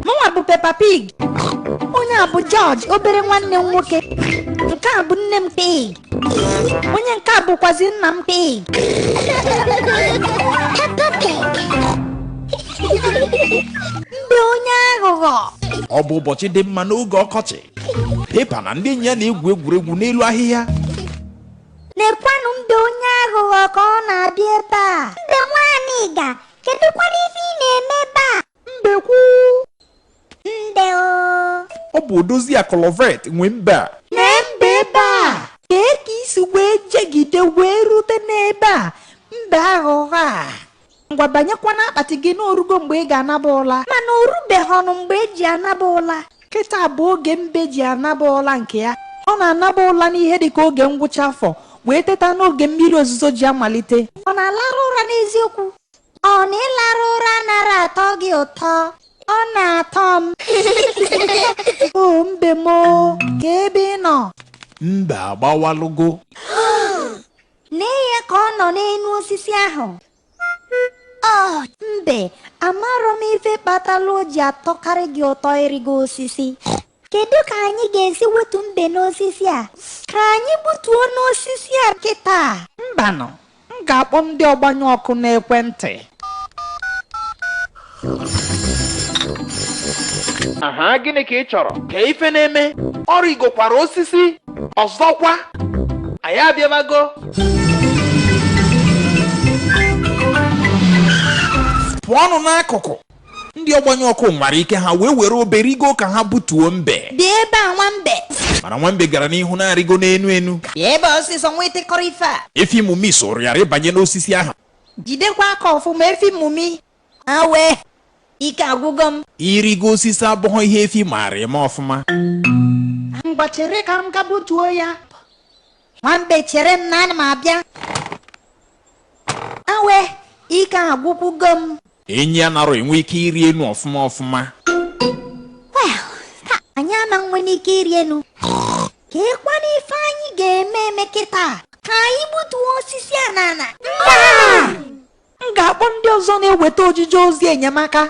mụnwa bụ Peppa Pig onye a bụ George obere nwanne m nwoke nke a bụ nne m Pig onye nke a bụkwazi nna m Pig Peppa Pig mbe onye aghụghọ ọ bụ ụbọchị dị mma n'oge ọkọchị Peppa na ndị enyi ya na-egwu egwuregwu n'elu ahịhịa Lekwanụ mbe onye aghụghọ ka ọ na-abịa ebe a. Mbe nwa anịga, kedụkwanụ ife ị na-eme ebe a? Mbekwu. Mbe o. Ọ bụ odoziakụ Lovet nwe mbe a. Nee mbe ebe a. Kee ka i si wee jegide wee rute n'ebe a mbe aghụghọ a. Ngwa banyekwa n'akpati gị na o rugo mgbe ị ga-anaba ụla. Mana o rubeghịnụ mgbe e ji anaba ụla. Kịta bụ oge mbe ji anaba ụla nke ya. Ọ na-anaba ụla n'ihe dị ka oge ngwụcha afọ wee teta n'oge mmiri ozuzo ji amalite. Ọ na-alarụ ụra n'eziokwu? Ọ na ịlarụ ụra anarọ atọ gị ụtọ? Ọ na-atọ m. O mbe m o, kee ebe ị nọ. Mbe agbawalụgo. Lee ya ka ọ nọ n'enu osisi ahụ. Oh, mbe, amarọ m ife kpatara o ji atọkarị gị ụtọ ịrịgo osisi. Kedu ka anyị ga-esi wetu mbe n'osisi a? Ka anyị gbutuonụ osisi a kịta. Mbanụ, m ga-akpọ ndị ọgbanyụ ọkụ n'ekwentị. aha gịnị ka ị chọrọ kee ife na-eme ọ rịgokwara osisi ọzọkwa anyị abịabago pụọnụ n'akụkụ ndị ọgbanyụ ọkụ nwara ike ha wee were obe rigo ka ha butuo mbe bịa ebe a nwambe mana nwambe gara n'ihu na-arịgo n'enu enu bịa ebe a ọsịsọ nwa ịtịkọrọ ife a efi mumi soro ya rịbanye n'osisi ahụ Jidekwa aka ọfụma efi mumi. Awe, ike agwụgo m. Ịrịgo osisi abụghị ihe efi maara eme ọfụma. Ngwa chere ka m gaa butuo ya. Nwambe chere m na ana m abịa. Awe, ike agwụkwugo m. Enyi anarọ enwe ike ịrị enu ọfụma ọfụma. Well, taa anyị ama nwere ike ịrị enu. Keekwanụ ife anyị ga-eme eme kịta? Ka anyị gbutuo osisi a n'ana. M ga-akpọ ndị ọzọ na-eweta ojije ozi enyemaka.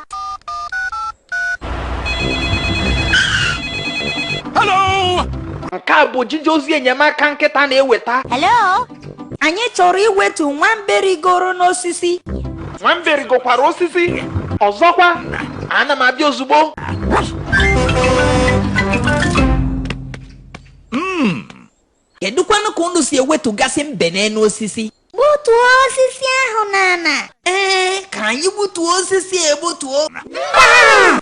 nke a bụ ojije ozi enyemaka nkịta na-eweta Hello? Anyị chọrọ iwetu nwambe rigoro n'osisi. nwambe rigokwara osisi ọzọkwa ana m abịa ozugbo Kedụkwanụ ka unu si ewetugasị mbe n'elu osisi? Gbutuo osisi ahụ n'ala. Ee, ka anyị gbutuo osisi egbutuo. Mba!